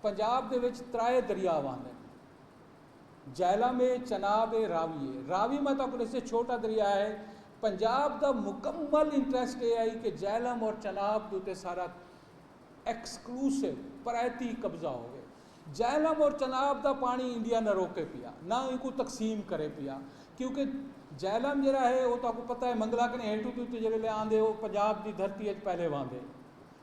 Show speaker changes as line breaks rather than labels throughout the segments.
پنجاب دے وچ ترائے دریا واہندن۔ جہلم اے، چناب اے، راوی اے۔ راوی میں تہاکوں ݙسیاں چھوٹا دریا ہے۔ پنجاب دا مکمل انٹریسٹ اے ہئی کہ جہلم اور چناب دے اتے سارا ایکسکلوسو، پرائیتی، قبضہ ہووے۔ جہلم اور چناب دا پاݨی انڈیا نہ روکے پیا، نہ اینکوں تقسیم کرے پیا۔ کیونکہ جہلم جیڑھا ہے او تہاکوں پتہ ہے منگلا کنیں ہیٹھوں توں اتے جیڑھے لے آندے او پنجاب دی دھرتی اچ پہلے واہندے۔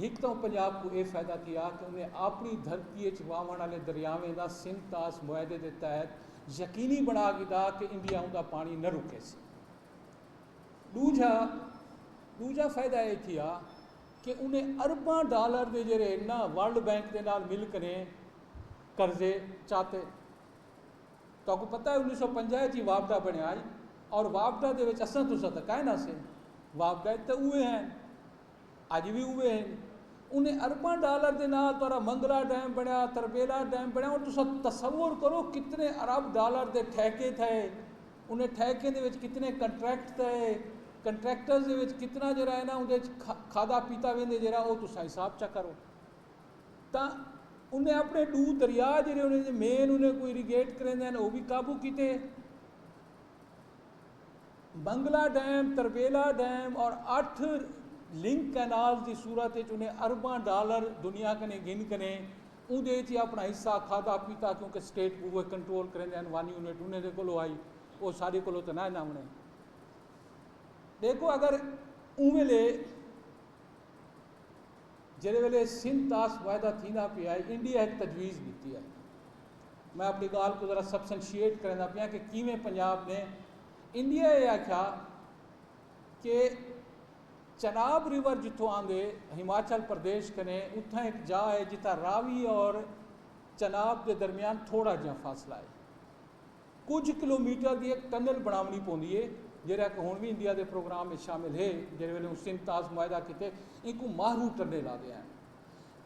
ہک تاں پنجاب کوں اے فیدہ تھیا کہ انہیں آپنی دھرتی اچ واہوݨ آلے دریاویں دا سندھ طاس معاہدے دے تحت یقینی بݨا گھدا کہ انڈیا اوندا پاݨی نہ رکیسی۔ ݙوجھا ݙوجھا فیدہ اے تھیا کہ انہیں ارباں ڈالر دے جیرھے نہ ورلڈ بینک دے نال مل کنیں قرضے چاتے۔ تہاکوں پتہ اے انیس سو پنجاہ اچ ای واپڈا بݨیا ہئی اور واپڈا دے وچ اساں تساں تاں کائے نہ سے۔ واپڈا اچ تاں اوہے ہن۔ اڄ وی اوہے ہن۔ انہیں ارباں ڈالر دے نال تہاڈا منگلا ڈیم بنڑیا، تربیلا ڈیم بنڑیا ہن تساں تصور کرو کتنے ارب ڈالر دے ٹھیکے تھئے، انہیں ٹھیکیں دے وچ کتنے کنٹریکٹ تھئے، کنٹریکٹرز دے وچ کتنا جیہڑا ہے نا اوندے وچ کھادا پیتا ویندے جیہڑا او تساں حساب چا کرو۔ تاں انہیں اپنے ڈو دریا جیہڑے انہیں مین انہیں کوں اریگیٹ کریندے ہن او وی قابو کیتے۔ بنگلہ ڈیم، تربیلا ڈیم اور اٹھ لنک کینالز دی صورت اچ انہیں ارباں ڈالر دنیا کنے گھن کنے اوندے اچ اپنا حصہ کھادا پیتا کیونکہ سٹیٹ اوہے کنٹرول کریندے ہن ون یونٹ انہیں دے کولو ہائی او ساڈے کولو تے نہ نہ ہونے دیکھو اگر اونویلے جیڑھے ویلے سندھ تاس معاہدہ تھیندا پیا ہے انڈیا ہک تجویز ڈتی ہے میں اپنی گال کو ذرا سبسنشیٹ کرنا پیا کہ کیویں پنجاب نے انڈیا یہ آکھیا کہ چناب ریور جتھوں آندے ہماچل پردیش کنے اتھاں ایک جا ہے جتھاں راوی اور چناب دے درمیان تھوڑا جہاں فاصلہ ہے کجھ کلومیٹر دی ہک ٹنل بݨاوݨی پوندی اے جیرھا کہ ہݨ وی انڈیا دے پروگرام اچ شامل اے جیرھے ویلے اوں سندھ تاز معاہدہ کیتے اینکوں ماہ روٹ ٹنل آدے ہن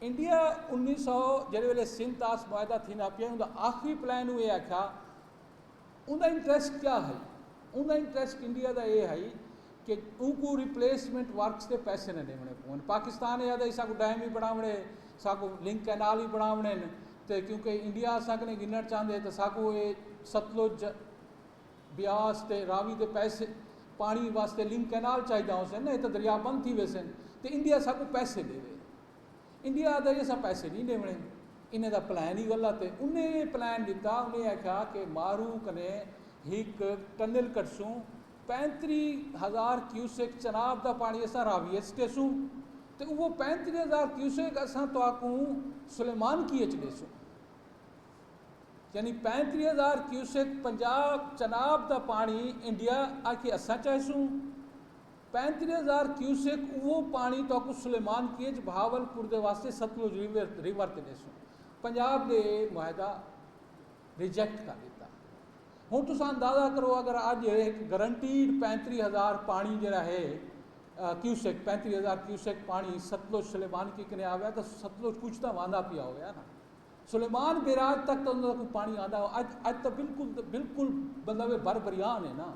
انڈیا انیس سو جیرھے ویلے سندھ تاز معاہدہ تھیندا پیا اوندا آخری پلان اوں اے آکھیا اوندا انٹریسٹ کیا ہئی اوندا انٹریسٹ انڈیا دا اے ہئی کہ اونکوں ریپلیسمنٹ ورکس دے پیسے نہ ݙیوݨے پون پاکستان اے آدھا ہی ساکوں ڈیم وی بݨاوݨے ساکوں لنک کینال وی بݨاوݨے تے کیونکہ انڈیا اساں کنیں گھنڑ چاہندے تے ساکوں اے ستلج، بیاس تے راوی دے پیسے پانڑی واسطے لنک کینال چاہیداں ہوسن نہ تے دریا بند تھی ویسن تے انڈیا ساکوں پیسے ڈیوے۔ انڈیا آہدا جی اساں پیسے نی ڈیونے انہیں دا پلان ہی غلط ہے۔ انہیں اے پلان ڈتا انہیں آکھیا کہ مارو کنیں ہک ٹنل کڈسوں پینتری ہزار کیوسک چناب دا پاݨی اساں راوی اچ ݙیسوں تے اوہو پینتری ہزار کیوسک اساں تہاکوں سلیمانکی اچ ݙیسوں۔ یعنی پینتری ہزار کیوسک پنجاب چناب دا پاݨی انڈیا آکھے اساں چائیسوں۔ پینتری ہزار کیوسک اوہو پاݨی تہاکوں سلیمانکی اچ بھاول پور دے واسطے ستلج ریور تے ݙیسوں۔ پنجاب دے معاہدہ۔ ریجیکٹ کر ݙتا۔ ہݨ تساں اندازہ کرو اگر اڄ ہک گرنٹیڈ پینتری ہزار پاݨی جیڑھا ہے کیوسک پینتری ہزار کیوسک پاݨی ستلج سلیمان کی کنیں آویا تاں ستلج کچھ تاں واندا پیا ہویا نا سلیمان بیراج تک تاں انہاں دا کوئی پاݨی آندا ہو اڄ اڄ تاں بالکل بالکل مطلب ہے بھر بھریان ہے نا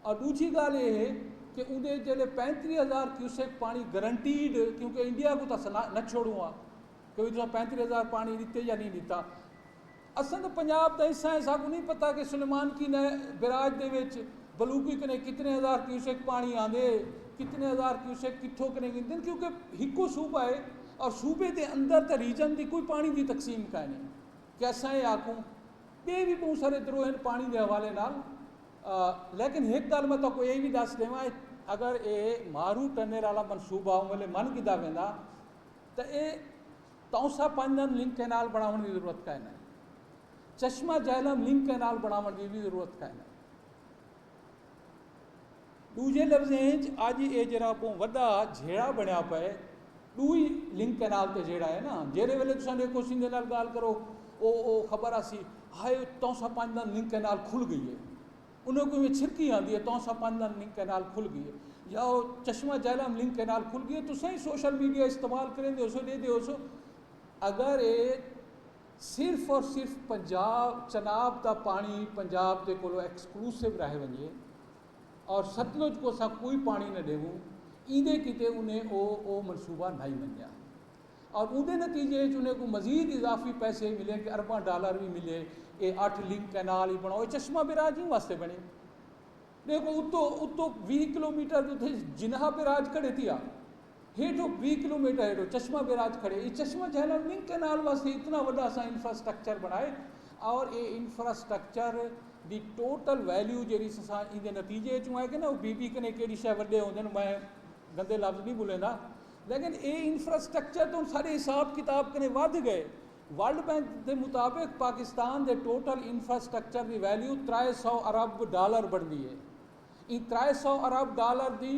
اور ݙوجھی ڳالھ اے ہے کہ اوندے جیڑھے پینتری ہزار کیوسک پاݨی گرنٹیڈ کیونکہ انڈیا کوں تاں نہ چھوڑوں آ کہ تساں پینتری ہزار پانی ڈتے یا نی ڈتا۔ اساں تاں پنجاب دا حصہ ہیں ساکوں نی پتہ کہ سلیمان کی نہ بیراج دے وچ بلوکی کنے کتنے ہزار کیوسک پانی آندے کتنے ہزار کیوسک کتھوں کنے گھندن کیونکہ ہکو صوبہ ہے اور صوبے دے اندر تاں ریجن دی کوئی پانی دی تقسیم کائے نی کہ اساں اے آکھوں بے وی بہوں سارے درو ہیں پانی دے حوالے نال لیکن ہک گال میں تاکوں اے وی دس دیواں اگر اے مارو ٹنل والا منصوبہ اوں ویلے من گھدا ویندا تے اے تاؤسا پنجن لنک کینال بنڑاونڑ دی ضرورت کائناں اے۔ چشمہ جہلم لنک کینال بنڑاونڑ دی وی ضرورت کائناں اے۔ ڈوجھے لفظیں اچ اج اے جیرھا بہوں وڈا جھیڑا بنڑیا پئے ڈوئی لنک کینال تے جیڑھا اے نا جیرھے ویلے تساں ڈیکھو سندھے نال گال کرو او او خبر آسی ہائے تاؤسا پنجن لنک کینال کھل گئی اے۔ انہاں کوں ایویں چھرکی آندی ہے تونسا پن لن لنک کینال کھل گئیے یا او چشمہ جہلم لنک کینال کھل گئیے تساں ہی سوشل میڈیا استعمال کریندے ہوسو ڈیدے ہوسو اگر اے صرف اور صرف پنجاب چناب دا پانی پنجاب دے کولو ایکسکلوسو رہ ونجے اور ستلج کو اساں کوئی پانی نہ ڈیووں ایندے کیتے انہیں او او منصوبہ نائی منیا۔ اور اوندے نتیجے اچ انہیں کوں مزید اضافی پیسے ملے کہ ارباں ڈالر وی ملے اے اٹھ لنک کینال ای بنڑاؤ اے چشمہ بیراج ایں واسطے بنڑے ڈیکھو اتو اتو ویہہ کلومیٹر دے اتھے جناح بیراج کھڑے تھیا ہیٹھو ویہہ کلومیٹر ہیٹھو چشمہ بیراج کھڑے اے چشمہ جہلم لنک کینال واسطے اتنا وڈا اساں انفراسٹرکچر بنڑائے اور اے انفراسٹرکچر دی ٹوٹل ویلیو جیڑی اساں ایندے نتیجے اچوں ہے کہ نہ او بی بی کنے کیڑی شے وڈے ہوندے میں گندے لفظ نہیں بولیندا لیکن اے انفراسٹرکچر توں ساڈے حساب کتاب کنیں ودھ گئے، ورلڈ بینک دے مطابق پاکستان دے ٹوٹل انفراسٹرکچر دی ویلیو ترائے سو ارب ڈالر بنڑدی اے، ایں ترائے سو ارب ڈالر دی۔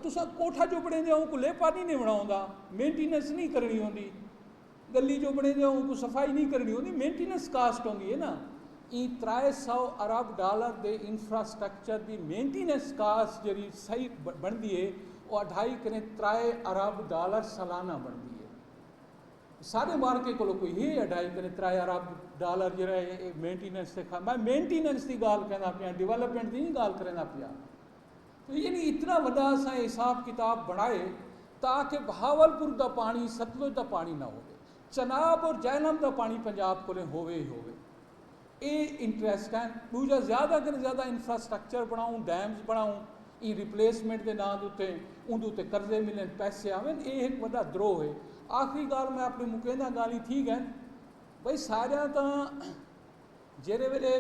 تساں کوٹھا جو بنڑیندے او کوں لیپا نی نیں بنڑاوندا، مینٹیننس نی کرنڑی ہوندی۔ گلی جو بݨیندے ہن اونکوں صفائی نی کرݨی ہوندی مینٹیننس کاسٹ ہوندی اے نا ایں ترائے سو ارب ڈالر دے انفراسٹرکچر دی مینٹیننس کاسٹ جیڑھی صحیح بݨدی اے او اڈھائی کنیں ترائے ارب ڈالر سالانہ بݨدی اے ساݙے مارکے کولو کوئی ہے اڈھائی کنیں ترائے ارب ڈالر جیڑھا اے مینٹیننس تے میں مینٹیننس دی ڳالھ کیندا پیاں ڈیولپمنٹ دی نی ڳالھ کریندا پیاں یعنی اتنا وݙا اساں اے حساب کتاب بݨائے تاکہ بہاولپور دا پاݨی ستلج دا پاݨی نہ ہووے، چناب اور جہلم دا پاݨی پنجاب کولیں ہووے ای ہووے۔ اے انٹریسٹ ہن۔ ݙوجھا زیادہ کنیں زیادہ انفراسٹرکچر بݨاؤں، ڈیمز بݨاؤں، ایں ریپلیسمنٹ دے ناں دے اتے اوندے اتے قرضے ملن، پیسے آون، اے ہک وݙا دروہ ہے۔ آخری ڳالھ میں اپݨی مکینداں ڳالھیں تھی ڳئن۔ بھئی ساریاں تاں۔ جیرھے ویلے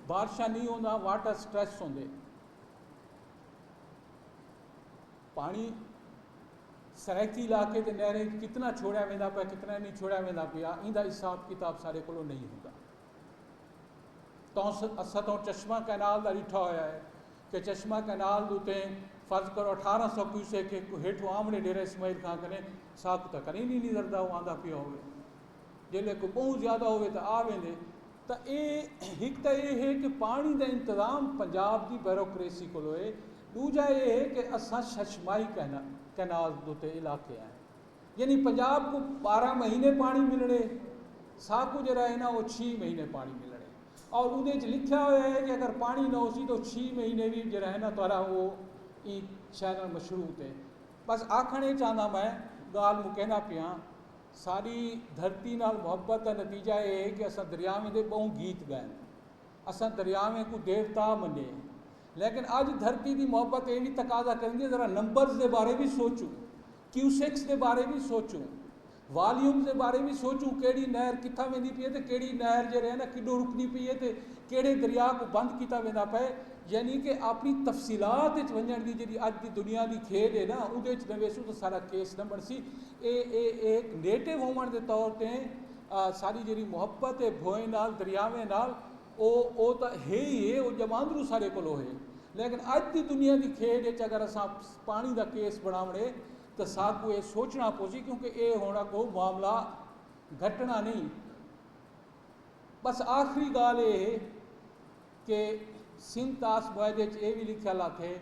بارشاں نی ہونداں واٹر سٹریس ہوندے پانی سرائیکی علاقے تے نہریں کتنا چھوڑیا ویندا پیا کتنا نہیں چھوڑیا ویندا پیا ایندا حساب کتاب سارے کولو نہیں ہوندا توں اسا توں چشمہ کینال دا ڈٹھا ہویا ہے کہ چشمہ کینال دوتے فرض کرو اٹھارہ سو کیوسے کہ ہیٹھو آمنے ڈیرہ اسماعیل خان کنے ساکو تک نہیں نہیں نظردہ ہو آندا پیا ہوئے جیلے کوئی بہوں زیادہ ہووے تاں آ ویندے تاں اے ہک تاں اے ہے کہ پاݨی دا انتظام پنجاب دی بیوروکریسی کولو اے ݙوجھا اے ہے کہ اساں ششماہی کینالز ݙتے علاقے آئیں یعنی پنجاب کوں ٻارہاں مہینے پاݨی ملݨے ساکوں جیڑھا ہے نا او چھی مہینے پاݨی ملݨے اور اودے وچ لکھیا ہویا ہے کہ اگر پاݨی نہ ہوسی تو چھی مہینے وی جیڑھا ہے نا تہاݙا او ایں چینل مشروط ہے بس آکھݨ اے چاہندا میں ڳالھ مکیندا پیاں ساݙی دھرتی نال محبت دا نتیجہ ایہ ہے کہ اساں دریاویں دے ٻہوں گیت ڳائن۔ اساں دریاویں کوں دیوتا منیے۔ لیکن اڄ دھرتی دی محبت ایہ وی تقاضا کریندی ہے ذرا نمبرز دے بارے وی سوچوں، کیوسکس دے بارے وی سوچوں، والیومز دے بارے وی سوچوں کیڑھی نہر کتھاں ویندی پئی ہے تے کیڑھی نہر جیڑھے ہے نا کݙوں رکدی پئی ہے تے کیڑھے دریا کوں بند کیتا ویندا پئے یعنی کہ اپݨی تفصیلات وچ ونڄݨ دی جیڑھی اڄ دی دنیا دی کھیݙ ہے نا اوندے وچ نہ ویسوں تاں ساݙا کیس نہ بݨسی۔ اے اے اے ہک نیٹو ہووݨ دے طور تے ساݙی جیڑھی محبت ہے بھوئیں نال دریاویں نال او او تاں ہے ہی ہے او ڄماندروں ساݙے کولو ہے لیکن اڄ دی دنیا دی کھیݙ اچ اگر اساں پاݨی دا کیس بݨاوݨ ہے تاں ساکوں اے سوچݨا پوسی کیونکہ اے ہݨ اڳوں معاملہ گھٹݨا نہیں بس آخری ڳالھ اے ہے کہ سندھ تاس بائد اچ اے وی لکھیا لاتھے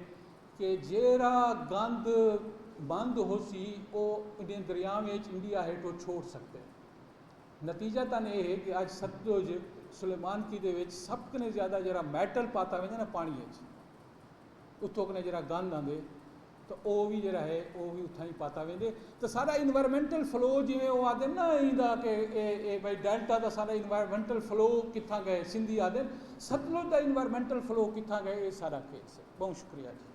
کہ جیرھا گند بند ہوسی او انڈین دریاویں اچ انڈیا ہیٹھو چھوڑ سکدے۔ نتیجہ تن اے ہے کہ اج ستلج سلیمانکی دے وچ سب کنے زیادہ جیرھا میٹل پاتا ویندے نا پانڑی اچ اتھو کنے جیرھا گند آندے تاں او وی جیڑھا ہے او وی اتھاں ای پاتا ویندے تاں ساڈا انوائرمنٹل فلو جیویں او آدھن نا ایندا کہ اے اے بھائی ڈیلٹا دا ساڈا انوائرمنٹل فلو کتھاں گئے Sindhi آدھن Sutlej the environmental flow کتھاں گئے اے ساڈا کیس ہے بہوں شکریہ جی